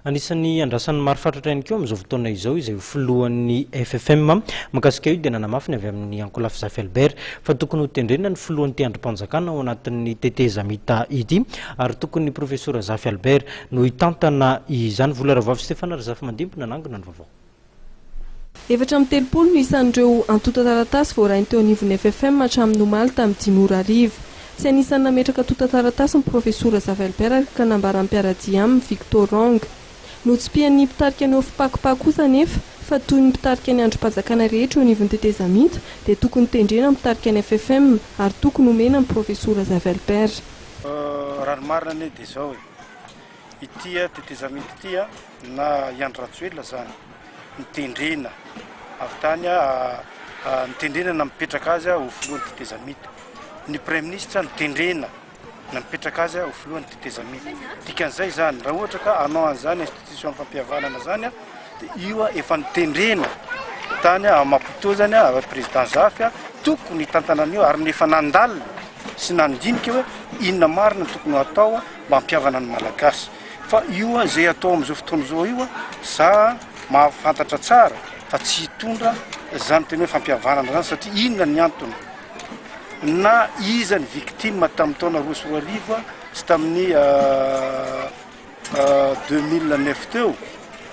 Anisan'ny andrasan'ny maro fatratra ihany koa amin'izao fotoana izao izay ho filohan'ny FFM. Mahakasika io dia nanamafy ny avy amin'ny ankolafy Zafy Albert fa tokony ho tendrena ny filohan'ny teandrim-panjakana ao anatin'ny tetezamita ity ary tokony ny profesora Zafy Albert no hitantana izany. Vola Ravoavy Stefana Razafimandimpy nanangona ny vaovao. Efatra amby telopolo no isan'ireo antontan-taratasy voarainy teo anivon'ny FFM hatramin'ny omaly tamin'ny dimy ora hariva. Tsy anisan'ny nametraka antontan-taratasy ny Profesora Zavelbert ary ka nambaran'ny mpiara-dia aminy, Victor Rong. Notsipihan'ny mpitarika ny Ofpacopa kosa anefa fa toy ny mpitarika ny andrim-panjakana rehetra eo anivon'ny tetezamita dia tokony tendrena ny mpitarika ny FFM ary tokony omena ny Profesora Zavelbert. Raha ny marina anie dia izao e. Ity tetezamita ity na i Andry Rajoelina izany nitendrena avy tany, nitendrena nampipetraka azy ho filohan'ny tetezamita. Ny Praiminisitra nitendrena nampipetraka azy ho filohan'ny tetezamita. Dikan'izay izany, raha ohatra ka hanao an'izany institution-pampihavanana izany, dia io efa nitendrena tany à Maputo izany à président Zafy tokony hitantana an'io ary ny efa nandalina sy nandinika hoe inona marina tokony hatao mampiavana ny Malagasy fa io an izay atao amin'izao fotoana izao io an za mahafantatra tsara fa tsy hitondra izany tena hoe fampihavanana izany satria inona ny antony na iza ny victime tamin'ny taona roa sy roa arivo sy tamin'ny 2009 teo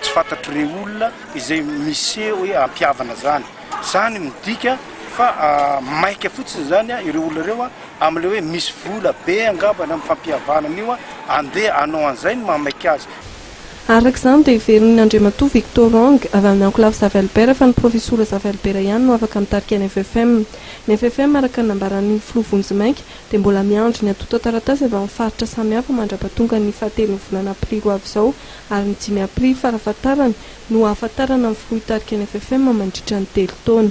Tsy fantatry rey olona izay miseho hoe ampihavana zany. Zany midika fa maika fotsiny zany ireo olona ireo amle hoe misy vola be angamba ny am fampihavanana io andeha anao anzay ny maha maika azy. Araka izany dia heverin'ny Andriamatoa Victor Ong, avy amin'ny Ankolafy Zavelbert fa ny Profesora Zavelbert ihany no afaka mitarika ny FFM. Ny FFM araka ny nambaran'ny Filoha Vonjimainka dia mbola miandry ny antontan-taratasy avy amin'ny faritra samihafa mandrapatongan'ny fahatelon'ny volana aprily ho avy izao ary ny dimy Aprily farafahatarany no hahafantarana ny filoha hitarika ny FFM mandritra ny telo taona.